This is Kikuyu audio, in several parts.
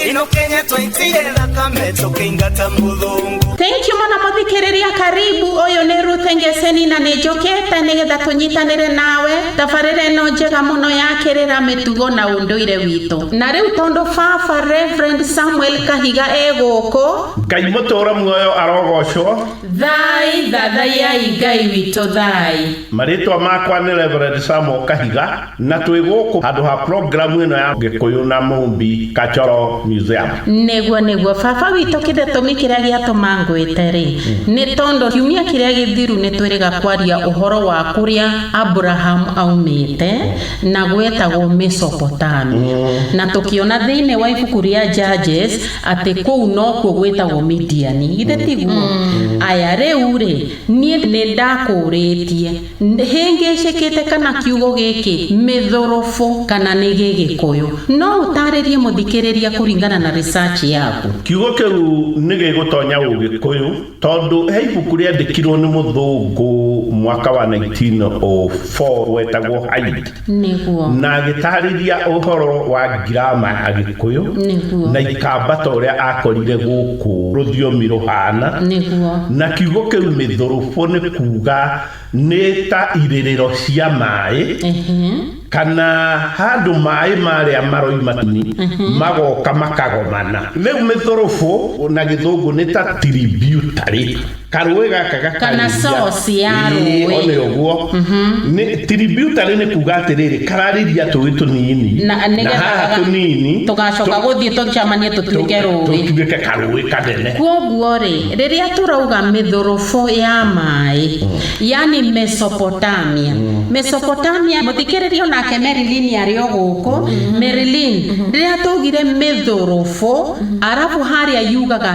ino kenya twaitire thakame tũkĩingata mũthũngũ Thank you mũno mũthikĩrĩria karibu ũyũ nĩ Ruth Ngeseni na nĩ njũkĩte nĩgetha tũnyitanĩre nawe tabarĩra ĩno njega mũno ya kĩrĩra mĩtugo na ũndũire witũ na rĩu tondũ baba Reverend Samuel Kahiga e gũkũ ngai mũtũũre muoyo arogocwo thai thathaiai Ngai witũ thai marĩtwa makwa nĩ reverend samuel kahiga Na twĩ gũkũ handũ ha programu ĩno ya Gĩkũyũ na Mũmbi Kachoro Museum. Nĩguo, nĩguo. Baba witũ kĩdetũmi kĩrĩa gĩatũma ngwĩte-rĩ, nĩ tondũ kiumia kĩrĩa gĩthiru nĩ twĩrĩga kwaria ũhoro wa kũrĩa Aburahamu aumĩte na gwetagwo Mesopotamia, na tũkĩona thĩinĩ wa ibuku rĩa Judges atĩ kũu nokuo gwĩtagwo Midiani. Githĩ tiguo? Aya, rĩu-rĩ, niĩ nĩ ndakũũrĩtie. Hĩngĩcĩkĩte kana kiugo gĩkĩ mĩthũrũbũ kana nĩ gĩgĩkũyũ. No ũtarĩrie mũthikĩrĩria kũringana na research yaku. Kiugo kĩu nĩ gĩgũtonya ũgĩkũyũ tondũ he ibuku rĩandĩkirwo nĩ mũthũngũ mwaka wa 1904 wetagwo Hyde. Nĩguo. Na agĩtaarĩria ũhoro wa ngiraama ya Gĩkũyũ. Nĩguo. Na ikamba ta ũrĩa aakorire gũkũ rũthiomi rũhaana. Nĩguo. Na kiugo kĩu mĩthũrũbũ nĩ kuuga nĩ ta irĩrĩro cia maaĩ. Ĩhĩ. Kana handũ maaĩ marĩa maroima tũni magoka makagomana. Rĩu mĩthũrũbũ na gĩthũngũ nĩ ta tributary. karũĩ gaka gakaria Kana source ya Ĩĩ, rũĩ. o nĩ ũguo Nĩ- tributary nĩ kuga atĩrĩrĩ kararĩria tũĩ tũnini Na- na nĩgetha haha gaga- tũnini tũgacoka tũ- gũthiĩ tũcamanie tũtuĩke tũ- rũĩ tũtuĩke karũĩ kanene kwoguo rĩ rĩrĩa tũrauga mĩthũrũbũ ya maĩ yani mesopotamia mesopotamia mũthikĩrĩria onake merilin arĩ o gũkũ merilin rĩrĩa twaugire mĩthũrũbũ arabu harĩa yugaga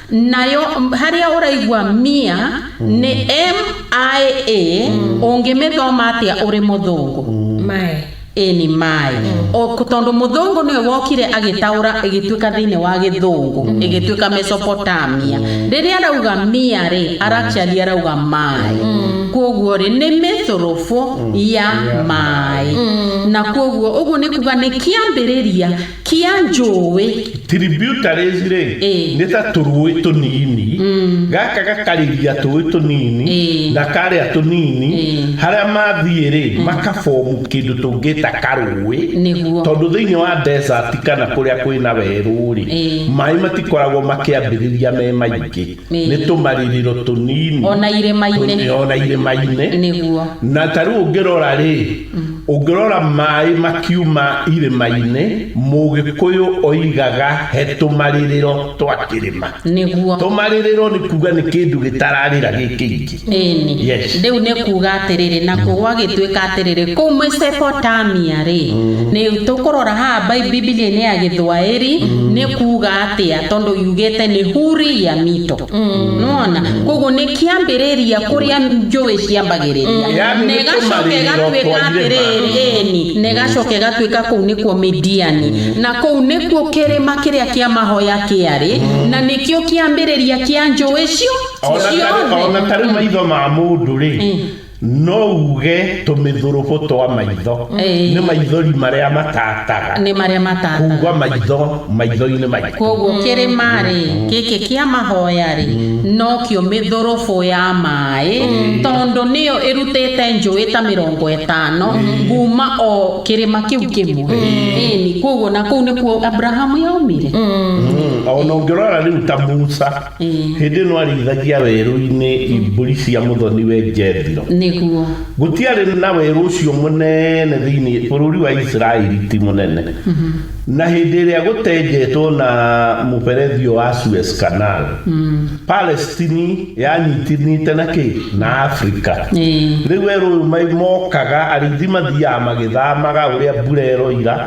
nayo harĩa ũraigua mia nĩ mia ũngĩmĩthoma atĩa ũrĩ mũthũngũ maĩ ĩ nĩ maĩ O- tondũ mũthũngũ nĩwe wokire agĩtaũra ĩgĩtuĩka thĩinĩ wa gĩthũngũ ĩgĩtuĩka mesopotamia rĩrĩa arauga mia rĩ aracali arauga maĩ kwoguo rĩ nĩ mĩthurubu ya maĩ na kwoguo ũguo nĩ kuga nĩ kĩambĩrĩria Kia njũũĩ. Tributaries rĩ, nĩ ta tũrũũĩ tũnini, gaka gakarĩria tũũĩ tũnini na karĩa tũnini, harĩa mathiĩ rĩ, maka form kĩndũ tũngĩta karũũĩ, tondũ thĩinĩ wa desert kana kũrĩa kwĩna werũ rĩ, maĩ matikoragwo makĩambĩrĩria me maingĩ. nĩ tũmaririro tũnini ona irĩma-inĩ ona irĩma-inĩ nĩguo na ta rĩu ũngĩrora rĩ ũngĩrora maĩ makiuma irĩma-inĩ mũgĩkũyũ oigaga he tũmarirĩro twa kĩrĩma nĩguo tũmarirĩro nĩ kuga nĩ kĩndũ gĩtararĩra gĩ kĩingĩ Ĩĩ-ni. Yes. Rĩu nĩ kuuga atĩrĩrĩ, nakuo gwagĩtuĩka atĩrĩrĩ, kũu Mesopotamia-rĩ, nĩ tũkũrora haha Bi- Bibilia-inĩ ya Gĩthwaĩri, nĩ kuuga atĩa, tondũ yugĩte nĩ huri ya mito. Nĩwona? Koguo nĩ kĩambĩrĩria kũrĩa njũĩ ciambagĩrĩria. Yaani Na nĩ ĩgacoka tũmarĩrĩro ĩgatuĩka twa irĩma. atĩrĩrĩ, ĩĩ-ni, na ĩgacoka ĩgatuĩka kũu nĩkuo Midiani. Na kũu nĩkuo kĩrĩma kĩrĩa kĩa mahoya kĩarĩ, na nĩkĩo kĩambĩrĩria kĩa njũĩ cio. Ona tarĩ- Ciothe. ona tarĩ maitho ma mũndũ rĩ no uge tũmĩthũrũbũ twa maitho Ĩĩ. nĩ maithori marĩa matataga nĩ marĩa matata kugwa maitho maitho-inĩ maitũ kwoguo kĩrĩma rĩ gĩkĩ kĩa mahoya rĩ nokĩo mĩthũrũbũ ya maĩ tondũ nĩyo ĩrutĩte njũĩ ta mĩrongo ĩtano kuma o kĩrĩma kĩu kĩmwe ĩni kwoguo na kũu nĩkuo abrahamu yaumire Mm, ona ũngĩrora rĩu ta musa Hĩndĩ ĩno arĩithagia werũ-inĩ mbũri cia mũthoni-we Jethiro. Nĩguo. Gũtiarĩ na werũ ũcio mũnene thĩinĩ, bũrũri wa Isiraeli ti mũnene. Na hĩndĩ ĩrĩa gũtenjetwo na mũberethi ũyũ wa Suez Canal, Palestine yanyitanĩte na kĩ? Na Afrika. Rĩu werũ ũyũ mokaga, arĩithi mathiaga magĩthamaga ũrĩa mbura ĩroira.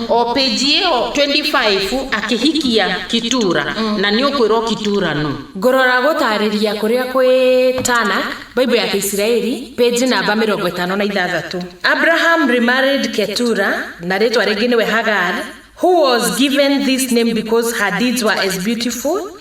o page ĩyo 25 akĩhikia kitura na nĩ ũkwĩrwo kitura no Ngũrora gũtaarĩria kũrĩa kwĩ Tana, Bible ya Kĩisiraeli, page namba mĩrongo ĩtano na ithathatũ. Abraham remarried Ketura, na rĩĩtwa rĩngĩ nĩwe Hagar, who was given this name because her deeds were as beautiful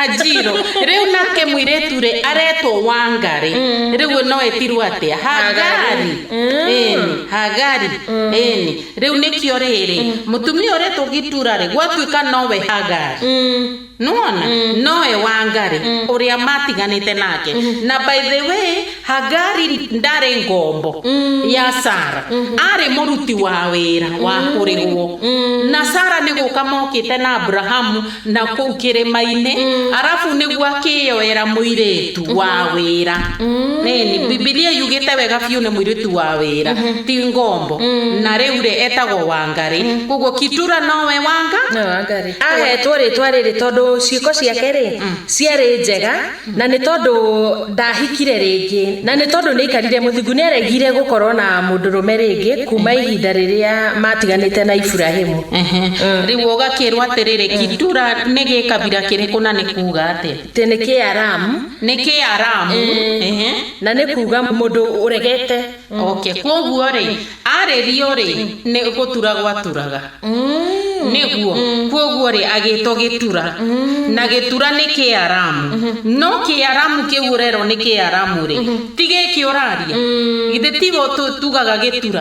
Hajiro, rĩu nake mũirĩtu rĩ aretwo wanga rĩ rĩu mm. no etirwo atĩa hagari mm. ĩni hagari mm. ĩni rĩu nĩkĩo rĩrĩ mũtumia ũretwo gĩtura rĩ gwatuĩka nowe hagari nuona mm. noe wangari mm. uria matiganite nake mm. na by the way hagari ndari ngombo mm. ya sara mm -hmm. ari muruti wa wira wa kurigwo mm. na sara ni guka mokite na abrahamu na kũu kĩrĩma-inĩ mm. arabu nĩguo akĩyoera mũirĩtu mm -hmm. wa mhm. wĩra mm. nini bibilia yugĩte wega biũ nĩ mũirĩtu wa wĩra mm -hmm. ti ngombo mm. na rĩu rĩ etagwo wangarĩ mm. koguo kitura nowe wanga no, ahetwo rĩtwa rĩrĩ tondũ ciĩko ciake rĩ mm. ciarĩ njega na nĩ tondũ ndahikire rĩngĩ na nĩ tondũ nĩ aikarire mũthingu nĩ aregire gũkorwo na mũndũrũme rĩngĩ kuma ihinda rĩrĩa matiganĩte na iburahimu rĩu ũgakĩrwo atĩrĩrĩ kindura nĩ gĩkabira kĩrĩkũ na nĩ kuga atĩa tĩ nĩ kĩaramu nĩ kĩaramu na nĩ kuga mũndũ ũregete oke kwoguo-rĩ arĩrio-rĩ nĩ gũtura gwaturaga nĩguo kwoguo-rĩ agĩtwo gĩtura na gĩtura nĩ kĩaramu no kĩaramu kĩu ũrerwo nĩ kĩaramu-rĩ ti gĩkĩ ũraria githĩ tiguo tugaga gĩtura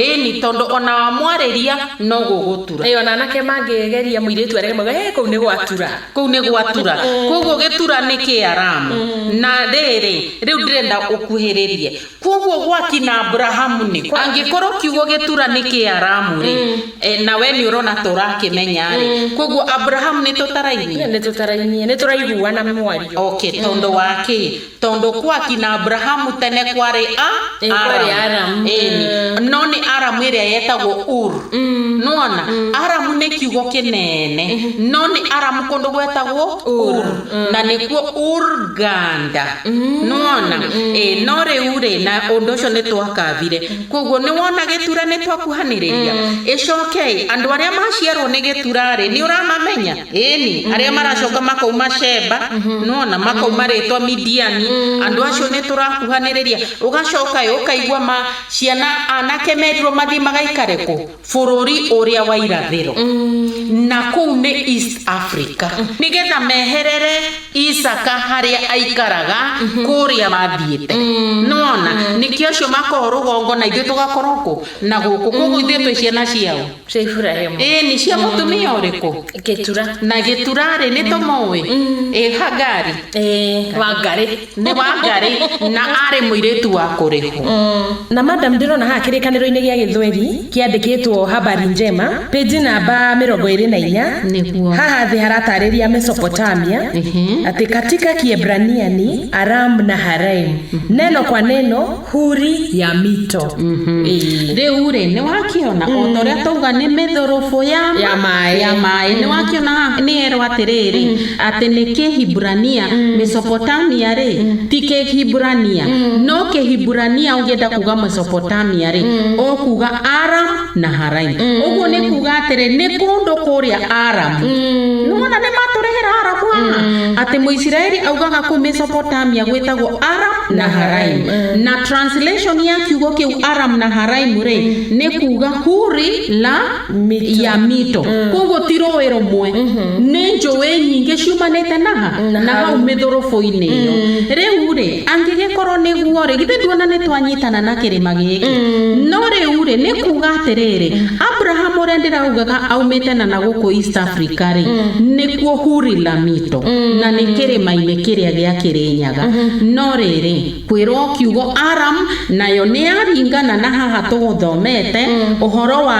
ĩni tondũ ona wamwarĩria no gũgũtura. Ĩĩ ona anake mangĩgeria mũirĩtu arege mauge ĩĩ kũu nĩ gwatura. Kũu nĩ gwatura kwoguo gĩtura nĩ kĩaramu na rĩrĩ rĩu ndĩrenda ũkuhĩrĩrie Kwoguo gwakina Aburahamu nĩ kũ? Angĩkorwo kiugo gĩtura nĩ Kĩaramu rĩ, eh, na we nĩ ũrona ta ũrakĩmenya rĩ, kwoguo Aburahamu nĩ tũtarainie? nĩ tũtarainie nĩ tũraiguana mwario Okay, tondũ wa kĩ? Tondũ kwaki na Aburahamu tene kwarĩ a Ĩ, kwarĩ Aramu. Ĩni. Mm. No nĩ Aramu ĩrĩa yetagwo Ur. Nĩwona? Aramu nĩ kiugo kĩnene. No nĩ Aramu kũndũ gwetagwo Ur. Na nĩkuo Urganda. nĩwona ĩ no rĩu rĩ na ũndũ ũcio nĩ twakabire koguo nĩwona gĩtura nĩ twakuhanĩrĩria ĩcokei andũ arĩa maciarwo nĩ gĩtura rĩ nĩ ũramamenya ĩni arĩa maracoka makauma shemba nĩwona makauma rĩtwa midiani andũ acio nĩ tũrakuhanĩrĩria ũgacoka ĩ ũkaigua ma ciana anake merirwo mathiĩ magaikare kũ. bũrũri ũrĩa wa irathĩro na kũu nĩ east africa nĩgetha meherere isaka harĩa aikaraga kũrĩa mathiĩte nona nĩkĩo acio makorwo rũgongo na ithuĩ tũgakorwo kũ na gũkũ koguo ithuĩ twĩ ciana ciao cia iburahimu ĩĩ nĩ cia mũtumia ũrĩkũ gĩtura na gĩturarĩ nĩ tũmũĩ ĩ hagari Ĩĩ, wangari Nĩ Wangari na aarĩ mũirĩtu wa kũrĩhwo. Na madam ndĩrona haha kĩrĩkanĩro-inĩ gĩa gĩthweri kĩandĩkĩtwo Habari Njema, page namba mĩrongo ĩrĩ na inya, Nĩguo. haha thĩ haratarĩria Mesopotamia Ehe. atĩ katika Kiebrania ni Aram-Naharaim, neno kwa neno huri ya mito Ĩĩ. rĩu rĩ nĩ wakĩona o ta ũrĩa twauga nĩ mĩthũrũbũ ya ma- Ya maĩ. ya maĩ nĩ wakĩona haha nĩ erwo atĩrĩrĩ atĩ nĩ kĩhiburania mesopotamia rĩ ti kĩhiburania no kĩhiburania ũngĩenda kuga mesopotamia rĩ ũkuga aram Naharaimu. Mm. Ũguo nĩ kuuga atĩrĩ nĩ kũndũ kũrĩa Aramu. Mm. Nĩwona nĩ matũrehera Aramu haha. Mm. Atĩ Mũisiraeli augaga kũu Mesopotamia gwĩtagwo Aram Naharaimu. Mm. Na translation ya kiugo kĩu Aram Naharaimu rĩ nĩ kuuga huri la Mito. ya mito. Koguo ti rũĩ rũmwe. Nĩ njũĩ nyingĩ ciumanĩte naha na hau mĩthũrũbũ-inĩ ĩyo. Rĩu rĩ Angĩgĩkorwo nĩguo-rĩ, githĩ nduona nĩtwanyitana na kĩrĩma gĩkĩ? No rĩu-rĩ, nĩ kuuga atĩrĩrĩ, Abrahamu ũrĩa ndĩraugaga aumĩte na na gũkũ East Africa-rĩ, nĩkuo Huri-Lamito, na nĩ kĩrĩma-inĩ kĩrĩa gĩa Kĩrĩnyaga. No rĩrĩ, kwĩrwo kiugo Aram, nayo nĩyaringana na haha tũgũthomete, ũhoro wa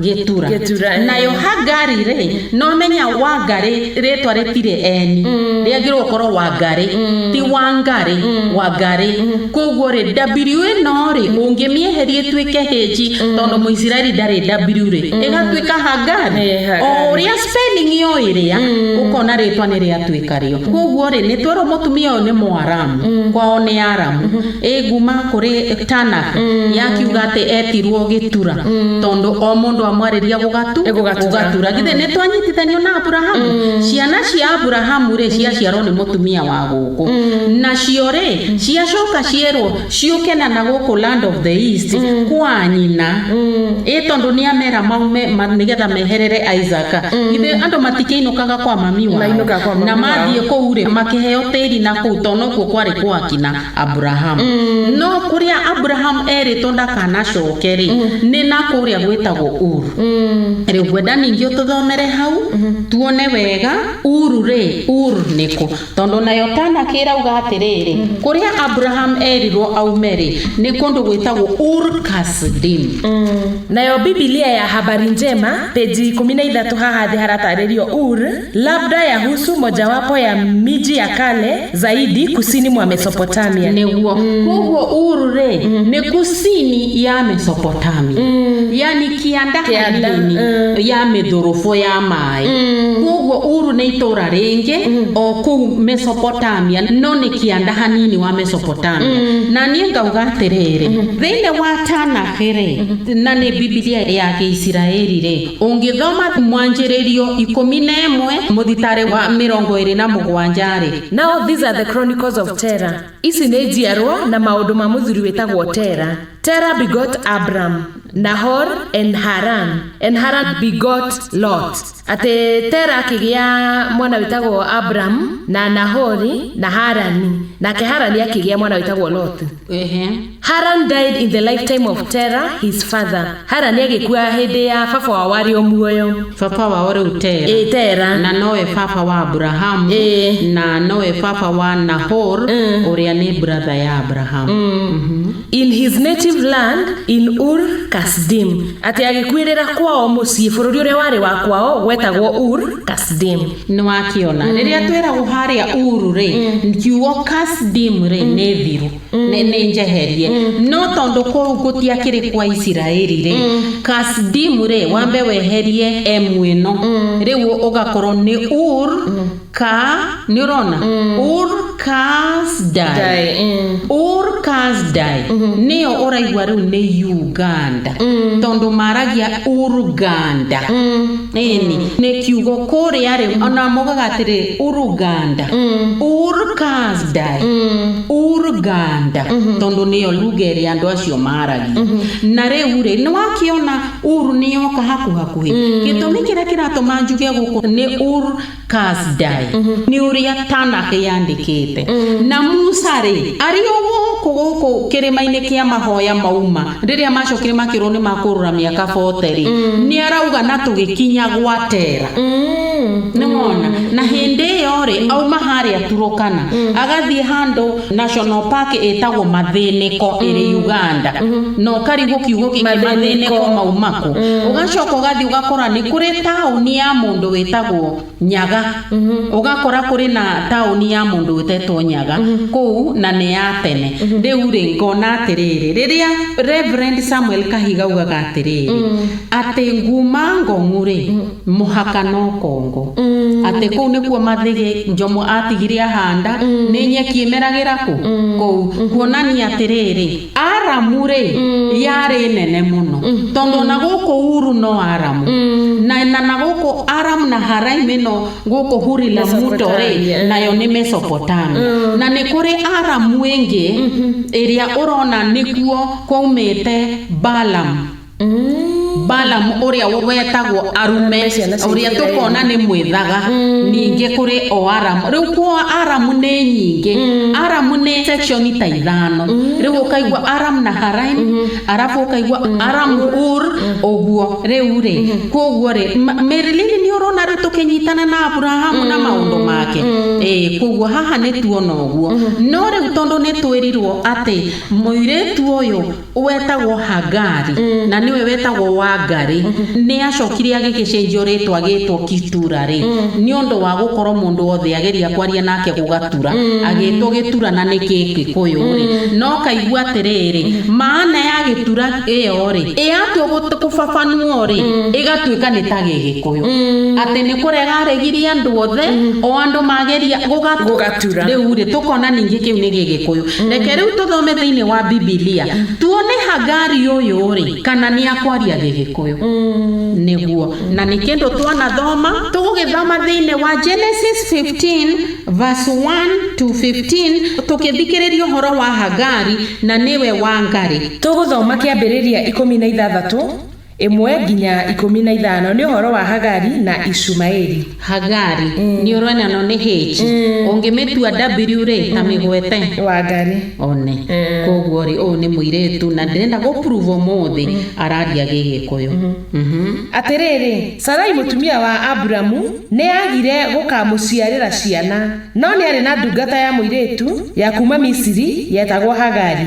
gĩtura Gĩtura, eh. nayo hangari rĩ nowamenya wangari rĩtwa rĩtirĩ eni rĩagĩrĩirwo gũkorwo wangari ti wangari wangari koguo rĩ w ĩno rĩ ũngĩmĩeheria ĩtuĩke hĩnji tondũ mũisiraeli ndarĩ w rĩ ĩgatuĩka hangari Eh, Hagari. o ũrĩa spelling yo ĩrĩa ũkona rĩtwa nĩ rĩatuĩka rĩo koguo rĩ nĩtwerwo mũtumia ũyũ nĩ mũaramu kwao nĩ aramu ĩnguma kũrĩ tana yakiuga atĩ etirwo gĩtura tondũ o mũndũ amwarĩria gũgatu Gũgatura. gũgatura githĩ nĩ twanyitithanio na aburahamu ciana cia aburahamu rĩ ciaciarwo nĩ mũtumia wa gũkũ nacio rĩ ciacoka cierwo ciũke na na gũkũ land of the east kwa nyina ĩ tondũ nĩ amera maume ma- nĩgetha meherere isaka githĩ andũ matikĩinũkaga kwa mami wao Mainũkaga kwa mami na wao. mathiĩ kũu rĩ makĩheo tĩri na kũu tondũ nokuo kwarĩ gwakina Aburahamu mm. no kuria Aburahamu erĩtwo ndakanacoke rĩ mm. nĩ na kuria gwĩtagwo Uru mm. rĩu ngwenda ningĩ ũtũthomere hau mm-hmm. tuone wega Uru rĩ Uru nĩkũ tondũ nayo tana kĩrauga atĩrĩrĩ mm-hmm. kuria Aburahamu erirwo aume rĩ nĩ kũndũ gwĩtagwo Ur Kasdim nayo Biblia ya habari njema peji ikũmi na ithatũ haha thĩ haratarĩrio Ur labda yahusu mojawapo ya miji ya kale zaidi kusini mwa Mesopotamia. nĩguo kwoguo uru rĩ nĩ kusini ya mesopotamia yani kĩanda Kĩanda, hanini ya mĩthũrũbũ ya maĩ kwoguo uru nĩ itũra rĩngĩ o kũu mesopotamia no nĩ kĩanda hanini wa mesopotamia na niĩ ngauga atĩrĩrĩ thĩinĩ wa tanakĩ rĩ na nĩ bibilia ya gĩisiraeli rĩ Ũngĩthoma mwanjĩrĩrio ikũmi na ĩmwe mũthitarĩ wa mĩrongo ĩrĩ na mũgwanja-rĩ. Now these are the chronicles of Terah. Ici nĩ njiarwa na maũndũ ma mũthuri wĩtagwo Terah. Terah begot Abram, Nahor, and Haran, and Haran begot Lot. Atĩ Terah akĩgĩa mwana wĩtagwo Abram, na Nahori, na Harani, nake Harani akĩgĩa mwana wĩtagwo Lotu. Ehe. Haran died in the lifetime of Terah his father. Haran agĩkua hĩndĩ ya baba wao arĩ o muoyo. baba wao rĩu tera Ĩ Tera. na nowe baba wa aburahamu Ĩ. na nowe baba wa nahor ũrĩa nĩ bratha ya aburahamu in his native land in ur kasdim atĩ agĩkuĩrĩra kwao mũciĩ bũrũri ũrĩa warĩ wa kwao gwetagwo ur kasdim Nĩwakĩona. Rĩrĩa twĩragwo harĩa Uru-rĩ, kiugo Kasdim-rĩ, nĩ thiru, nĩ nĩ njeherie. No tondũ kũu gũtiakĩrĩ kwa Isiraeli-rĩ, Kasdim-rĩ, wambe weherie M ĩno, rĩu ũgakorwo nĩ Ur ka, nĩũrona? Ur. cars die, die mm. or cars die mm -hmm. nĩyo ũraigua rĩu nĩ uganda mm. tondũ maragia uruganda mm. ĩni mm. nĩ kiugo kũrĩa rĩu mm. ona mogaga atĩrĩ uruganda mm. or cars die mm. uruganda mm -hmm. tondũ nĩyo lugha ĩrĩa andũ acio maragia mm -hmm. na rĩu rĩ nĩ wakiona uru nĩyoka hakuhakuhĩ mm. gĩtũmi kĩrĩa kĩratũma njuge gũkũ nĩ ur Kaasdai nĩ ũrĩa Tanakh yandĩkĩte. Na Musa-rĩ, arĩ o gũkũ gũkũ kĩrĩma-inĩ kĩa mahoya mauma, rĩrĩa macokire makĩrwo nĩ makũrũra mĩaka 40-rĩ, nĩarauga na tũgĩkinya gwa Tera. Nĩwona? Na hĩndĩ ĩyo-rĩ, auma harĩa Turukana, agathiĩ handũ National Park ĩtagwo Mathĩnĩko ĩrĩ mm. Uganda mm-hmm. na ũkarigwo kiugo gĩkĩ mathĩnĩko maumako mm. ũgacoka ũgathiĩ ũgakora nĩ kũrĩ taũni ya mũndũ wĩtagwo Nyaga mm-hmm. ũgakora kũrĩ na taũni ya mũndũ wĩtetwo Nyaga mm-hmm. kũu na nĩ ya tene rĩu rĩ ngona atĩrĩrĩ rĩrĩa Reverend Samuel Kahiga ugaga atĩrĩrĩ mm. atĩ nguma Ngong'u rĩ mũhaka no kongo atĩ kũu nĩkuo mathĩgĩ njomo atigire ahanda nĩ nyeki ĩmeragĩra kũ kũu kuonania atĩrĩrĩ aramu rĩ yarĩ nene mũno tondũ ona gũkũ uru no aramu na na na gũkũ aramu na haraim ĩno gũkũ huri na muto rĩ Mesopotamia. nayo nĩ mesopotamia na nĩ kũrĩ aramu ĩngĩ ĩrĩa ũrona nĩkuo kwaumĩte balamu Balamu ũrĩa wetagwo arume ũrĩa tũkona nĩ mwĩthaga ningĩ kũrĩ o aramu rĩu kwa aramu nĩ nyingĩ aramu nĩ section ta ithano rĩu ũkaigua aramu na haraim arabu ũkaigua aramu ur ũguo rĩu rĩ kwoguo rĩ mĩrĩlili nĩ ũrona rĩu tũkĩnyitana na aburahamu na maũndũ make ĩĩ kwoguo haha nĩtuona ũguo no rĩu tondũ nĩtwĩrirwo atĩ mũirĩtu ũyũ. wetagwo Hagari, na nĩwe wetagwo Wangari, nĩ acokire agĩgĩcenjio rĩtwa agĩtwo Kitura-rĩ, nĩ ũndũ wa gũkorwo mũndũ wothe ageria kwaria nake gũgatura, agĩtwo Gĩtura na nĩ Gĩgĩkũyũ-rĩ, na ũkaigua atĩrĩrĩ, maana ya Gĩtura ĩyo-rĩ, yatua gũbabanuo-rĩ, ĩgatuĩka nĩ ta Gĩgĩkũyũ. Atĩ nĩ kũrega aregirie andũ othe, o andũ mageria gũgatura. Rĩu-rĩ, tũkona ningĩ kĩu nĩ Gĩgĩkũyũ. Reke rĩu tũthome thĩinĩ wa Bibilia tuone Hagari ũyũ-rĩ, kana nĩ akwaria Gĩgĩkũyũ. Nĩguo. Na nĩ kĩndũ twanathoma. Tũgũgĩthoma thĩinĩ wa Genesis 15 verse 1 to 15 tũkĩthikĩrĩria ũhoro wa Hagari na nĩwe Wangarĩ. Tũgũthoma kĩambĩrĩria ikũmi na ithathatũ Ĩmwe nginya ikũmi na ithano nĩ ũhoro wa Hagari na Ishumaeli. Hagari nĩ ũroinanwo nĩ H. Ũngĩmĩtua W-rĩ, ta mĩgwete. Wangari. One. Koguo-rĩ, ũyũ nĩ mũirĩtu na ndĩrenda gũ prove ũmũthĩ araria Gĩgĩkũyũ. Mhm. Atĩrĩrĩ, Sarai mũtumia wa Aburamu nĩaagire gũkaamũciarĩra ciana, no nĩarĩ na ndungata ya mũirĩtu ya kuuma Misiri yetagwo Hagari.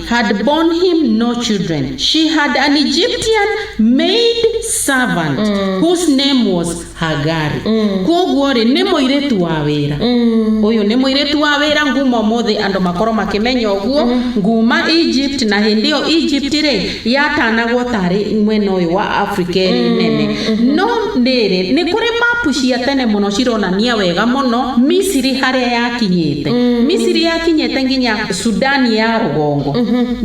had borne him no children, she had an Egyptian maid servant mm. whose name was Hagari. Mm. Koguo rĩ nĩ mũirĩtu wa wĩra. Mm. Ũyũ nĩ mũirĩtu wa wĩra nguma ũmũthĩ andũ makorwo makĩmenya ũguo mm. nguma Egypt na hĩndĩ ĩyo Egypt rĩ yatanagwo tarĩ mwena ũyũ wa Africa ĩrĩ mm. nene. Mm-hmm. No rĩrĩ nĩ kũrĩ mapu cia tene mũno cironania wega mũno Misiri harĩa yakinyĩte. Mm. Misiri yakinyĩte nginya sudani ya rũgongo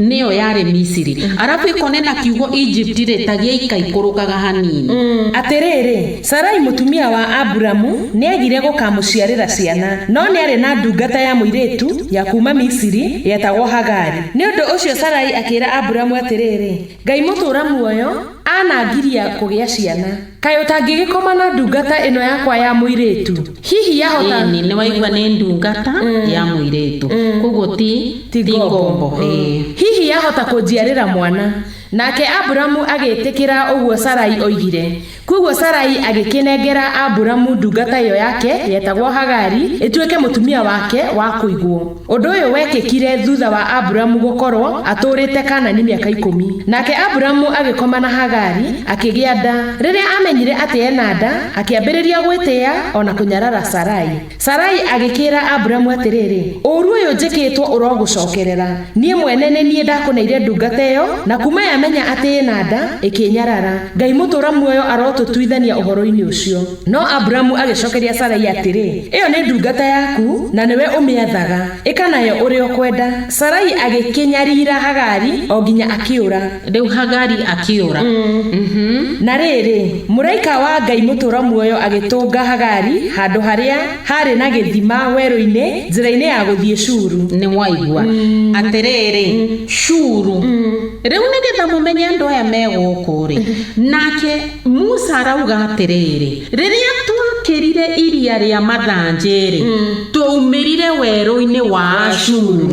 nĩyo yarĩ misiri arabu ĩkonena kiugo egypt rĩ ta gĩaikaikũrũkaga hanini Atĩrĩrĩ, Sarai mũtumia wa Aburamu nĩagire gũkamũciarĩra ciana, no nĩarĩ na ndungata ya mũirĩtu ya kuuma Misiri yetagwo Hagari. Nĩ ũndũ ũcio Sarai akĩĩra Aburamu atĩrĩrĩ, Ngai mũtũũra muoyo, anangiria kũgĩa ciana. Kaĩ ũtangĩgĩkoma na ndungata ĩno yakwa ya mũirĩtu? Hihi yahota. Ĩni, nĩwaigua nĩ ndungata ya mũirĩtu. Kwoguo ti, Ti ti ngombo. ngombo. Ĩĩ. Hihi yahota kũnjiarĩra mwana? Nake Aburamu agĩĩtĩkĩra ũguo Sarai oigire. Kwoguo Sarai agĩkĩnengera Aburamu ndungata ĩyo yake yetagwo Hagari ĩtuĩke mũtumia wake wa kũigwo. Ũndũ ũyũ wekĩkire thutha wa Aburamu gũkorwo atũũrĩte Kanani mĩaka ikũmi. Nake Aburamu agĩkoma na Hagari, akĩgĩa nda. Rĩrĩa aamenyire atĩ ena nda, akĩambĩrĩria gwĩtĩĩa o na kũnyarara Sarai. Sarai agĩkĩĩra Aburamu atĩrĩrĩ, Ũũru ũyũ njĩkĩĩtwo ũrogũcookerera. Niĩ mwene nĩ niĩ ndakũneire ndungata ĩyo, na kuuma yamenya atĩ ĩna nda, ĩkĩĩnyarara. Ngai mũtũũra muoyo arotũtuithania ũhoro-inĩ ũcio. No Aburamu agĩcokeria Sarai atĩrĩ, Ĩyo nĩ ndungata yaku, na nĩwe ũmĩathaga. Ĩka nayo ũrĩa ũkwenda. Sarai agĩkĩnyariira Hagari o nginya akĩũra. Rĩu Hagari akĩũra. Na rĩrĩ, mũraika wa Ngai mũtũũra muoyo agĩtũnga Hagari handũ harĩa haarĩ na gĩthima werũ-inĩ njĩra-inĩ ya gũthiĩ Shuru. Nĩwaigua? Atĩrĩrĩ, Shuru, rĩu nĩgetha mũmenye andũ aya me gũkũ-rĩ, nake. Musa arauga atĩrĩrĩ, Rĩrĩa twakĩrire iria rĩa mathanjĩ-rĩ, twaumĩrire werũ-inĩ wa Ashuru.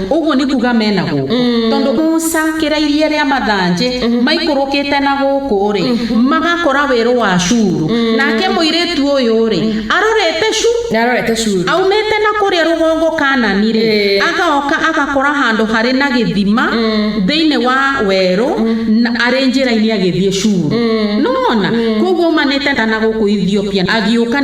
Ũguo nĩ kuga me na gũkũ. Tondũ Musa akĩra iria rĩa mathanjĩ maikũrũkĩte na gũkũ-rĩ, magakora werũ wa Ashuru. Nake mũirĩtu ũyũ-rĩ, arorete shuru nä arorete curu aumĩte na kũrĩa rũgongo Kaanani-rĩ, Ĩĩ. agaoka agakora handũ harĩ na gĩthima thĩinĩ wa werũ na arĩ njĩra-inĩ agĩthiĩ Shuru. Nĩwona? Kwoguo aumanĩte na gũkũ Ethiopia agĩũka.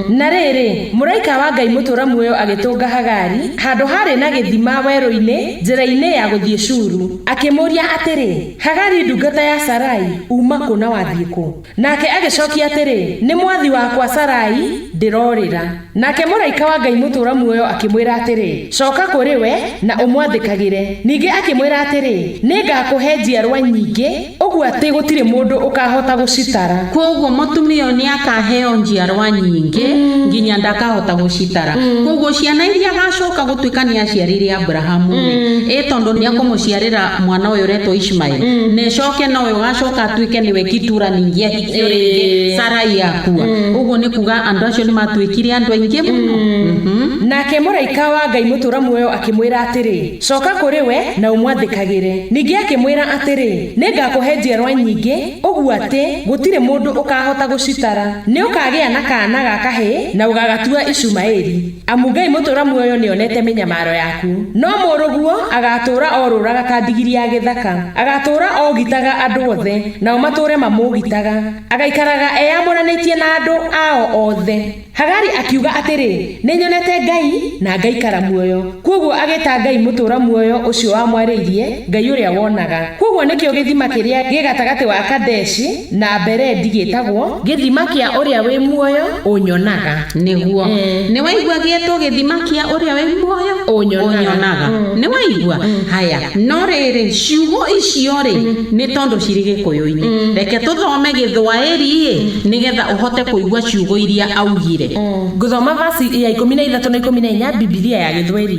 Na rĩrĩ, mũraika wa Ngai mũtũũra muoyo agĩtũnga Hagari handũ haarĩ na gĩthima werũ-inĩ njĩra-inĩ ya gũthiĩ Shuru. Akĩmũũria atĩrĩ, Hagari ndungata ya Sarai, uuma kũ na wathiĩ kũ? Nake agĩcookia atĩrĩ, Nĩ mwathi wakwa Sarai ndĩrorĩra. Nake mũraika wa Ngai mũtũũra muoyo akĩmwĩra atĩrĩ, Cooka kũrĩ we, na ũmwathĩkagĩre. Ningĩ akĩmwĩra atĩrĩ, Nĩngakũhe njiarwa nyingĩ, ũguo atĩ gũtirĩ mũndũ ũkaahota gũcitara. Kwoguo mũtumia ũyũ nĩakaaheo njiarwa nyingĩ nginya ndakahota gũcitara. Kwoguo ciana iria agaacooka gũtuĩka nĩaciarĩire Aburahamu-rĩ, ĩ tondũ nĩekũmũciarĩra mwana ũyũ ũretwo Ishimaeli. na ĩcoke nowe ũgacoka atuĩke nĩwe gĩtura ningĩ ahikio rĩngĩ Ĩĩ. sarai akua ũguo nĩ kuga andũ acio nĩ matuĩkire andũ aingĩ mũno Mhm. nake mũraika wa ngai mũtũra muoyo akĩmwĩra atĩrĩ coka kũrĩ we na ũmwathĩkagĩre ningĩ akĩmwĩra atĩrĩ nĩ ngakũhe njiarwa nyingĩ ũguo atĩ gũtirĩ mũndũ ũkahota gũcitara nĩ ũkagĩa na kaana ga kahĩĩ na ũgagatua icumaĩri Amu Ngai mũtũũra muoyo nĩonete mĩnyamaro yaku. No mũrũguo agaatũũra orũũraga ta ndigiri ya gĩthaka. Agaatũũra oogitaga andũ othe, nao matũũre mamũũgitaga. Agaikaraga eyamũranĩtie na andũ ao othe. Hagari akiuga atĩrĩ, Nĩnyonete Ngai, na ngaikara muoyo. Kwoguo agĩĩta Ngai mũtũũra muoyo ũcio wamwarĩirie, Ngai ũrĩa wonaga. Kwoguo nĩkĩo gĩthima kĩrĩa gĩ gatagatĩ wa Kadeshi. Na mbere ndigĩtagwo. Gĩthima kĩa ũrĩa wĩ muoyo, ũnyonaga. Nĩguo. Nĩwaigua gĩetwo gĩthima kĩa ũrĩa wĩ muoyo, ũnyonaga. Nĩwaigua? Haya. No rĩrĩ, ciugo icio-rĩ, nĩ tondũ cirĩ Gĩkũyũ-inĩ. Reke tũthome Gĩthwaĩri-ĩ, nĩgetha ũhote kũigua ciugo iria augire. Ngũthoma verse ya ikũmi na ithatũ na ikũmi na inya, Bibilia ya Gĩthweri.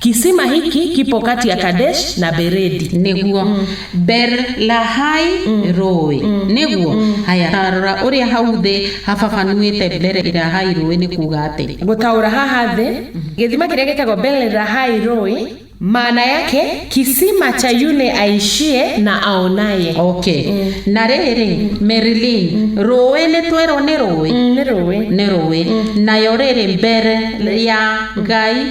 Kisima hiki kipo kati ya Kadesh na Beredi. nĩguo berlahai rũĩ nĩguo haya tarora ũrĩa hau thĩ hababanuĩte berlahai rũĩ nĩ kuga atĩ Gũtaũra haha thĩ, gĩthima kĩrĩa gĩtagwo Berlahai rũĩ, maana yake kisima cha yule aishie na aonaye. okay na rĩrĩ merilin rũĩ nĩ twerwo nĩ rũĩ Mm, Nĩ rũĩ. nĩ rũĩ nayo rĩrĩ mbere ya ngai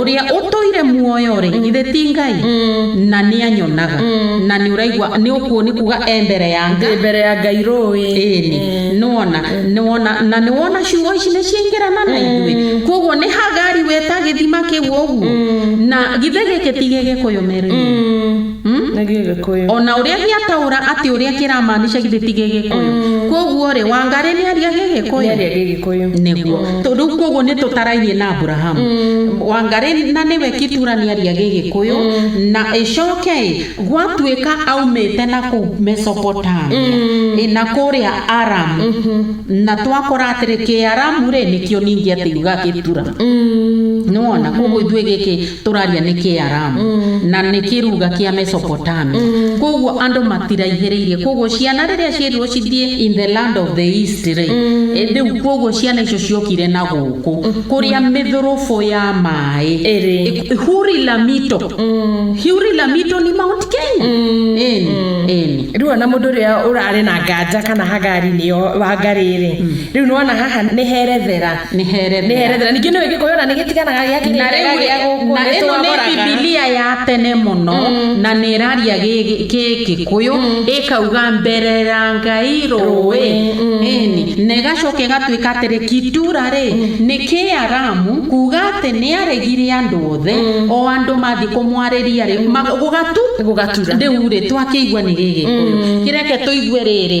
uria utuire muoyo ri githe ti ngai na nianyonaga na niuraigua ni ukuo ni kuga e mbere ya nga Ndĩ mbere ya ngai rũĩ ĩni nĩwona nĩwona na nĩwona ciugo ici nĩ ciingĩrana na ithuĩ koguo nĩ hagari weta gĩthima kĩu ũguo na githĩ gĩkĩ ti gĩgĩkũyũ merũ nĩ gĩgĩkũyũ. O na ũrĩa gĩataũra atĩ ũrĩa kĩramaanisha githĩ ti gĩgĩkũyũ? Kwoguo-rĩ, Wangarĩ nĩ aria gĩgĩkũyũ? Nĩ aria gĩgĩkũyũ. Nĩguo. Rĩu kwoguo nĩ tũtarainie na Aburahamu. Wangarĩ na nĩwe Kitura nĩ aria gĩgĩkũyũ, na ĩcoke-ĩ, gwatuĩka aumĩte na kũu Mesopotamia, ĩ, na kũrĩa Aramu, na twakora atĩrĩ, Kĩaramu-rĩ, nĩkĩo ningĩ atĩ yugaga gĩtura. Nĩ wona? Kwoguo ithuĩ gĩkĩ tũraria nĩ Kĩaramu mm. na nĩ kĩruga kĩa Mesopotamia mm. koguo andũ matiraihĩrĩirie koguo ciana rĩrĩa ciĩrirwo cithiĩ in the land of the east rĩ mm. eh, rĩu koguo ciana icio ciokire na gũkũ mm. kũrĩa mĩthũrũbũ ya maĩ eh, huri lamito mm. huri lamito ni mount kenya mm. eni mm. eni rĩu ona mũndũ ũrĩa ũrarĩ na nganja kana hagari nĩyo wangari rĩ mm. rĩu nĩwona haha nĩ herethera nĩ herethera nĩ herethera ningĩ nĩ wĩkĩkũyũ ona nĩ gĩtiganaga gĩa kĩrĩa rĩu gĩa gũkũ na ĩno nĩ nĩtwagũraga bibilia ya tene mũno na nĩ ĩraria gĩkĩkũyũ ĩkauga mberera ngai rũĩ ĩni na ĩgacoka ĩgatuĩka atĩrĩ kitura rĩ nĩ kĩaramu kuga atĩ nĩ aregire andũ othe o andũ mathiĩ kũmwarĩria rĩ ma- gũgatu gũgatura rĩu rĩ twakĩigua nĩ gĩgĩkũyũ kĩreke tũigue rĩrĩ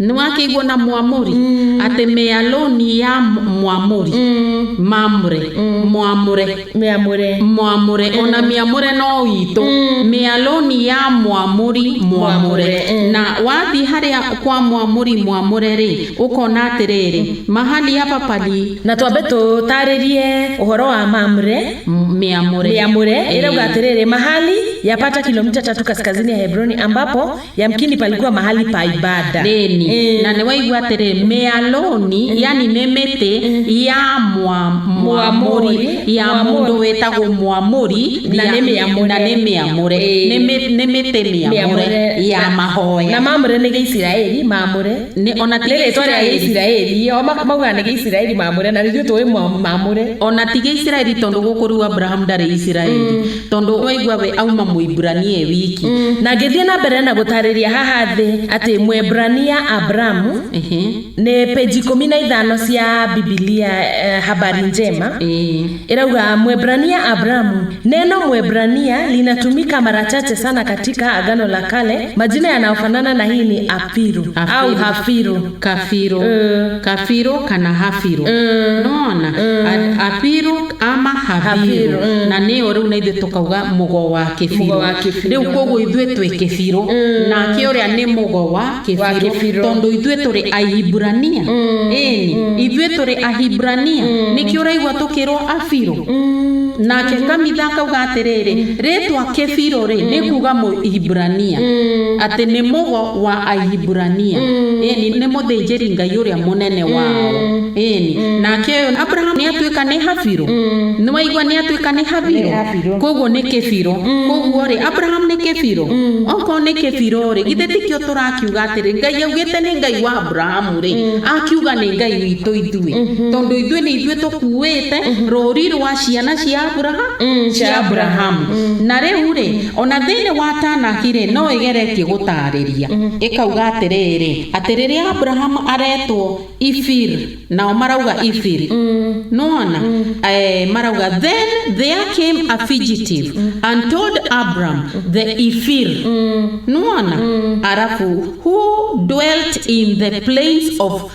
Nĩwakĩiguo na Mũamori atĩ mĩalũni ya Mũamori, Mamre, Mũamre, Mĩamũre. Mũamre, o na Mĩamũre no witũ, mĩalũni ya Mũamori, Mũamre. Na wathiĩ harĩa kwa Mũamori, Mũamre-rĩ, ũkona atĩrĩrĩ, Mahali hapa pali. Na twambe tũtaarĩrie ũhoro wa Mamre, Mĩamũre. Mĩamũre, ĩrauga atĩrĩrĩ, Mahali yapata kilomita tatu kaskazini ya Hebroni ambapo yamkini palikuwa mahali pa ibada deni Eh. na niwaigua atĩrĩ mĩalũni yani nĩ mĩtĩ ya mwa- mwamũri ya mũndũ wĩtagwo mwamũri Na ya- nĩ mĩamũre. na nĩ mĩamũre Eh. Nĩ mĩ- nĩ mĩtĩ mĩamũre ya Na- mahoya na mamũre nĩ gĩisiraeli mamũre Nĩ- ona ti nĩ rĩtwa rĩa Gĩisiraeli. gĩisiraeli o ma- maugaga nĩ gĩisiraeli mamũre na ithuĩ tũĩ mwa- mamũre ona ti gĩisiraeli tondũ gũkũ rĩu abrahamu ndarĩ isiraeli tondũ waigua we auma mũibrania e wiki na ngĩthiĩ na mbere na gũtarĩria haha thĩ atĩ mwebrania abramu Ehe. nĩ peji ikũmi na ithano cia bibilia eh, habari njema Ĩĩ. irauga mwebrania abramu neno mwebrania linatumika mara chache sana katika agano la kale majina yanayofanana na hii ni afiru Afiru. au hafiru Kafiro, kafiro kana hafiro nona apiru ama habiru na nĩyo rĩu na ithuĩ tũkauga mũgo wa kĩbiro rĩu koguo ithuĩ twĩ kĩbiro nake ũrĩa nĩ mũgo wa kĩbiro tondũ ithuĩ tũrĩ ahibrania ĩni ithuĩ tũrĩ ahibrania nĩkĩ ũraigua tũkĩrwo abiro nake kamitha akauga atĩrĩrĩ rĩtwa kĩbiro rĩ nĩ kuga mũhibrania atĩ nĩ mũgo wa Ahibirania ĩni nĩ mũthĩnjĩri ngai ũrĩa mũnene wao ĩni nake ũyũ Abraham nĩ atuĩka nĩ Habiro nĩ waigua nĩ atuĩka nĩ Habiro Nĩ Habiro. koguo nĩ kĩbiro koguo rĩ Abraham nĩ kĩbiro okorwo nĩ kĩbiro rĩ githĩ tikĩo tũrakiuga atĩrĩ ngai augĩte nĩ ngai wa Abraham rĩ akiuga nĩ ngai witũ ithuĩ tondũ ithuĩ nĩ ithuĩ tũkuĩte rũri rwa ciana cia Abraham cia Abraham na rĩu rĩ O na thĩinĩ wa Tanakh-rĩ, no ĩgeretie gũtaarĩria, ĩkauga atĩrĩrĩ, atĩ rĩrĩa Abrahamu aretwo Ifir, nao marauga Ifir. Nĩwona? Ee, marauga, Then there came a fugitive and told Abram the Ifir. Nĩwona? Arabu, who dwelt in the plains of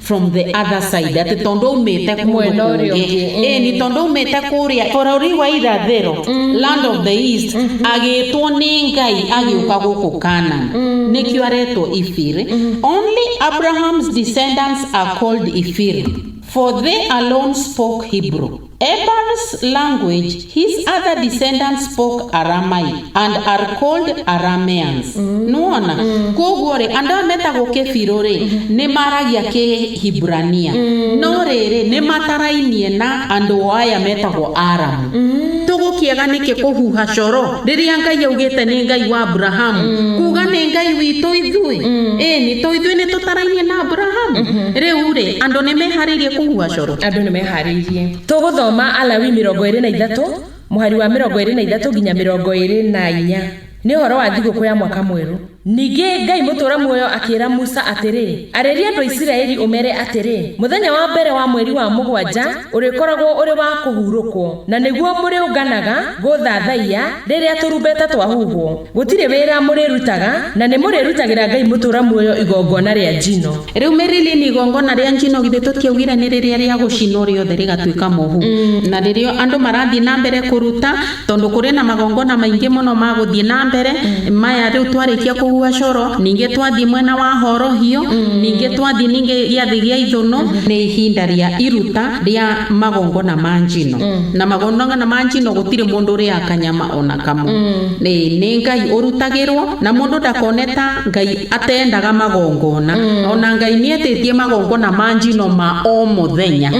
from the other side atĩ tondũ umĩte kũndũ Mwena ũrĩa kũngĩ ũngĩ, mm. ĩni tondũ umĩte kũrĩa bũrũri wa irathĩro land of the east agĩtwo nĩ ngai agĩũka gũkũ kanan nĩkĩo aretwo ibiri only abraham's descendants are called ibiri for they alone spoke hebrew Eber's language, his other descendants spoke Aramaic and are called Arameans. Nĩwona? Kwoguo rĩ, andũ aya metagwo Kefiru rĩ, nĩ maragia Kĩhibrania. No rĩrĩ, nĩ matarainie na andũ aya metagwo Aramu. Tũgũkĩaga nĩkĩ kũhuha coro rĩrĩa Ngai augĩte nĩ Ngai wa Abrahamu? Kuga nĩ Ngai witũ ithuĩ? Ĩni, to ithuĩ nĩ tũtarainie na Abrahamu? Rĩu rĩ, andũ nĩ meharĩirie kũhuha coro? Andũ nĩ meharĩirie. tũharĩirie. Tũgũthoma Alawi mĩrongo ĩrĩ na ithatũ mũhari wa mĩrongo ĩrĩ na ithatũ nginya mĩrongo ĩrĩ na inya. Nĩ ũhoro wa thigũkũ ya mwaka mwerũ. Ningĩ Ngai mũtũũra muoyo akĩĩra Musa atĩrĩ, Arĩria andũ a Isiraeli ũmere atĩrĩ, 'Mũthenya wa mbere wa mweri wa mũgwanja ũrĩkoragwo ũrĩ wa kũhurũkwo, na nĩguo mũrĩũnganaga gũũthathaiya rĩrĩa tũrumbeta twahuhwo. Gũtirĩ wĩra mũrĩrutaga, na nĩ mũrĩrutagĩra Ngai mũtũũra muoyo igongona rĩa njino. Rĩu mĩrĩlĩ nĩ igongona rĩa njino, githĩ tũtiaugire nĩ rĩrĩa rĩa gũcinwo rĩothe rĩgatuĩka mũhu? Na rĩrĩo andũ marathiĩ na mbere kũruta, tondũ kũrĩ na magongona maingĩ mũno ma gũthiĩ na mbere, maya rĩu twarĩkia kũhuha coro, ningĩ twathiĩ mwena wa horohio, ningĩ twathiĩ ningĩ gĩathĩ gĩa ithũnũ, nĩ ihinda rĩa iruta rĩa magongona ma njino. Na magongona ma njino gũtirĩ mũndũ ũrĩaga kanyama. ona kamwe nĩ nĩ ngai ũrutagĩrwo na mũndũ ndakone ta ngai atendaga magongona ona ngai nĩ etĩtie magongona ma njino ma o mũthenya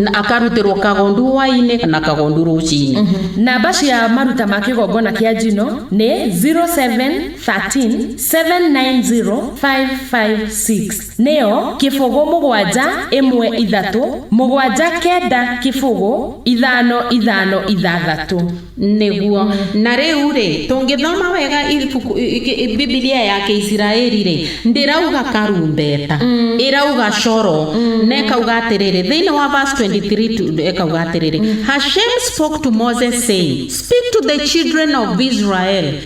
na akarutĩrwo kagondu hwainĩ na kagondu rũcinĩ Namba cia maruta ma kĩgongona kĩa njino nĩ 0713 790 556. Nĩyo, kĩbũgũ mũgwanja, ĩmwe ithatũ, mũgwanja kenda kĩbũgũ, ithano ithano ithathatũ. Nĩguo. Na rĩu-rĩ, tũngĩthoma wega Bibilia ya Kĩisiraeli-rĩ, ndĩrauga karumbeta, ĩrauga coro, na ĩkauga atĩrĩrĩ, thĩinĩ wa verse 23 ĩkauga atĩrĩrĩ, Hashem spoke to Moses saying, Speak to the children of Israel,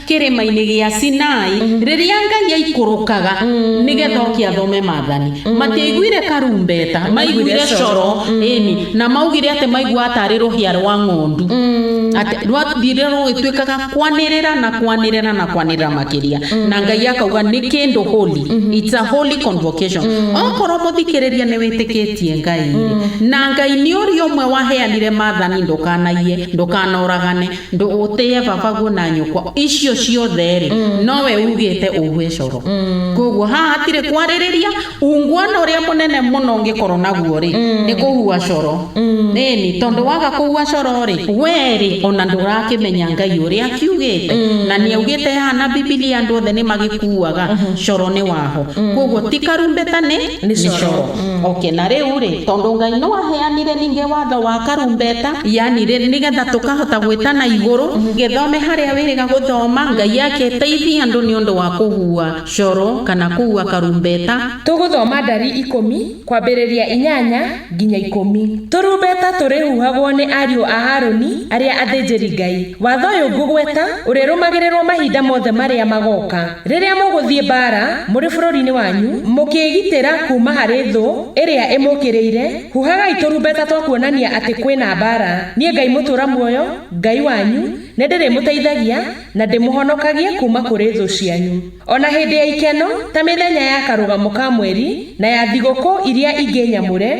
kĩrĩma-inĩ gĩa Sinai, rĩrĩa Ngai aikũrũkaga nĩgetha oke athome maathani. Matiaiguire karumbeta, maiguire coro, ĩni, na maugire atĩ maiguaga tarĩ rũhĩa rwa ng'ondu. Atĩ rwathire rũgĩtuĩkaga kwanĩrĩra na kwanĩrĩra na kwanĩrĩra makĩria. Na Ngai akauga nĩ kĩndũ holy. It's a holy convocation. Okorwo mũthikĩrĩria nĩ wĩtĩkĩtie Ngai-rĩ, na Ngai nĩ ũrĩa ũmwe waheanire maathani ndũkanaiye, ndũkanoragane, Ndũgũtĩĩa babaguo na nyũkwa. Icio ciothe-rĩ, nowe uugĩte ũhue coro. Kwoguo haha hatirĩ kwarĩrĩria. Unguana ũrĩa mũnene mũno ũngĩkorwo naguo-rĩ, nĩ kũhua coro. Ĩĩni, tondũ waga kũhua coro-rĩ, wee-rĩ, o na ndũrakĩmenya Ngai ũrĩa akiugĩte. Na nĩaugĩte haha na Bibilia andũ othe nĩmagĩkuaga coro nĩ waho. Kwoguo ti karumbeta nĩ coro. mm. okay na riu ri tondu ngai no aheanire ninge watho wa karumbeta yani ri nigetha tukahota gwitana iguru mm. githome haria wiriga guthoma ngai agiteithia andu ni undu wa kuhua coro kana kuhua karumbeta tuguthoma ndari ikumi kwambiriria inyanya nginya ikumi turumbeta turihuhagwo ni ariu a haruni aria athinjiri ngai watho uyu ngugweta urirumagirirwo mahinda mothe maria magoka Rĩrĩa mũgũthiĩ mbaara mũrĩ bũrũri-inĩ wanyu, mũkĩĩgitĩra kuuma harĩ thũ ĩrĩa ĩmũũkĩrĩire, huhagai tũrumbeta twa kuonania atĩ kwĩ na mbaara. Niĩ Ngai Mũtũũra Muoyo, Ngai wanyu, nĩ ndĩrĩmũteithagia na ndĩmũhonokagie kuuma kũrĩ thũ cianyu. O na hĩndĩ ya ikeno, ta mĩthenya ya Karũgamo ka Mweri na ya thigũkũ iria ingĩ nyamũre,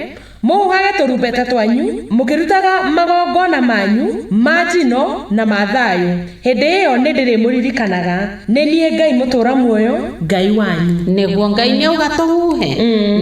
Mũhugage tũrumbeta twanyu, mũkĩrutaga magongona manyu ma njino na ma thayũ. Hĩndĩ ĩyo nĩndĩrĩmũririkanaga. Nĩ niĩ Ngai mũtũũra muoyo, Ngai wanyu. Nĩguo Ngai nĩauga tũhuhe?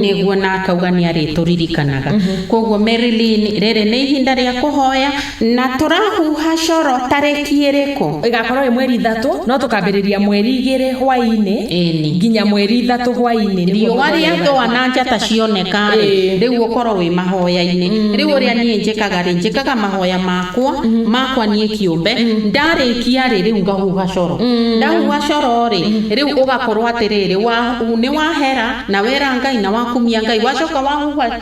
Nĩguo, na akauga nĩarĩtũririkanaga. Kwoguo, Mary Lynn, rĩrĩ nĩ ihinda rĩa kũhoya. Na tũrahuha coro tarĩki ĩrĩkũ? Ĩgakorwo ĩ mweri ithatũ, no tũkambĩrĩria mweri igĩrĩ hwaĩ-inĩ Ĩni. nginya mweri ithatũ hwaĩ-inĩ. Nĩguo Riũa mũthenya rĩathũa ũgathira. na njata cioneka-rĩ, Ĩĩ. rĩu ũkorwo wĩ mahoya-inĩ. Rĩu ũrĩa niĩ njĩkaga-rĩ, njĩkaga mahoya makwa, makwa niĩ kĩũmbe, ndarĩkia-rĩ, rĩu ngahuha coro. Ndahuha coro-rĩ, rĩu ũgakorwo atĩrĩrĩ, wa- nĩwahera, na wera Ngai, na wakumia Ngai. Wacoka wahuha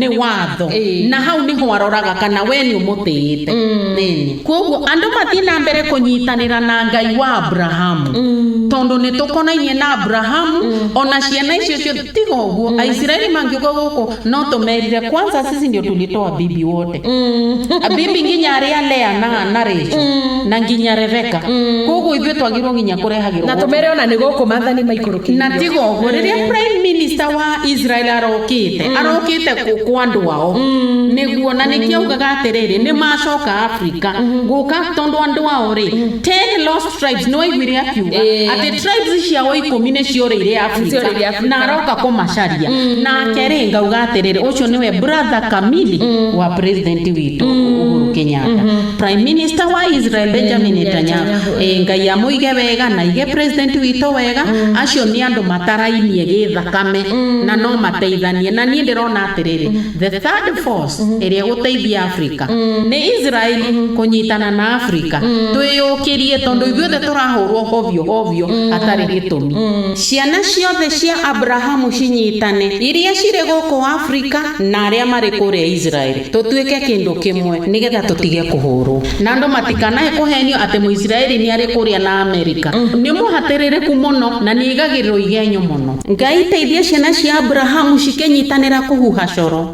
nĩ watho Ĩĩ. na hau nĩho aroraga kana we nĩ ũmũtĩĩte Nĩnĩ. kwoguo andũ mathiĩ na mbere kũnyitanĩra na ngai wa abrahamu tondũ nĩ tũkonainie na abrahamu ona ciana icio cio tiga ũguo aisiraeli mangĩũka gũkũ no tũmerire kwanza sisi ndio tulitoa bibi wote abimbi nginya aria lea na na rachel na nginya rebeka koguo ithuĩ twagĩrĩirwo nginya na kũrehagĩrwo tũmere ona nĩ gũkũ mathani maikũrũkĩirio na tiga ũguo rĩrĩa prime minister wa israel arokĩte arokĩte kũ- kwa andũ ao nĩguo na nĩkĩo augaga atĩrĩrĩ nĩ macoka africa gũka tondũ andũ ao rĩ 10 lost Tribes nĩ waiguire akiuga Ĩĩ. atĩ tribes ciao ikũmi nĩ ciorĩire Afrika ciorĩire Afrika. na aroka kũmacaria nake rĩ ngauga atĩrĩrĩ ũcio nĩwe brother Kamili wa president witũ Uhuru Kenyatta prime minister wa Israel Benjamin Netanyahu Netanyahu, Ĩĩ, Ngai amũige wega na aige president witũ wega acio nĩ andũ matarainie gĩthakame na no mateithanie na niĩ ndĩrona atĩrĩrĩ the third force ĩrĩa ĩgũteithia Afrika. Nĩ Israel kũnyitana na Afrika. Twĩyũkĩrie tondũ ithuothe tũrahũrwo hovio hovio hatarĩ gĩtũmi. Ciana ciothe cia Abrahamu cinyitane, iria cirĩ gũkũ Afrika na arĩa marĩ kũrĩa Israel. Tũtuĩke kĩndũ kĩmwe nĩgetha tũtige kũhũrwo. Na andũ matikanae kũhenio atĩ Mũisraeli nĩ arĩ kũrĩa na Amerika. Nĩ mũhatĩrĩrĩku mũno na nĩ aigagĩrĩrwo igenyo mũno. Ngai teithia ciana cia Abrahamu cikĩnyitanĩra kũhuha coro.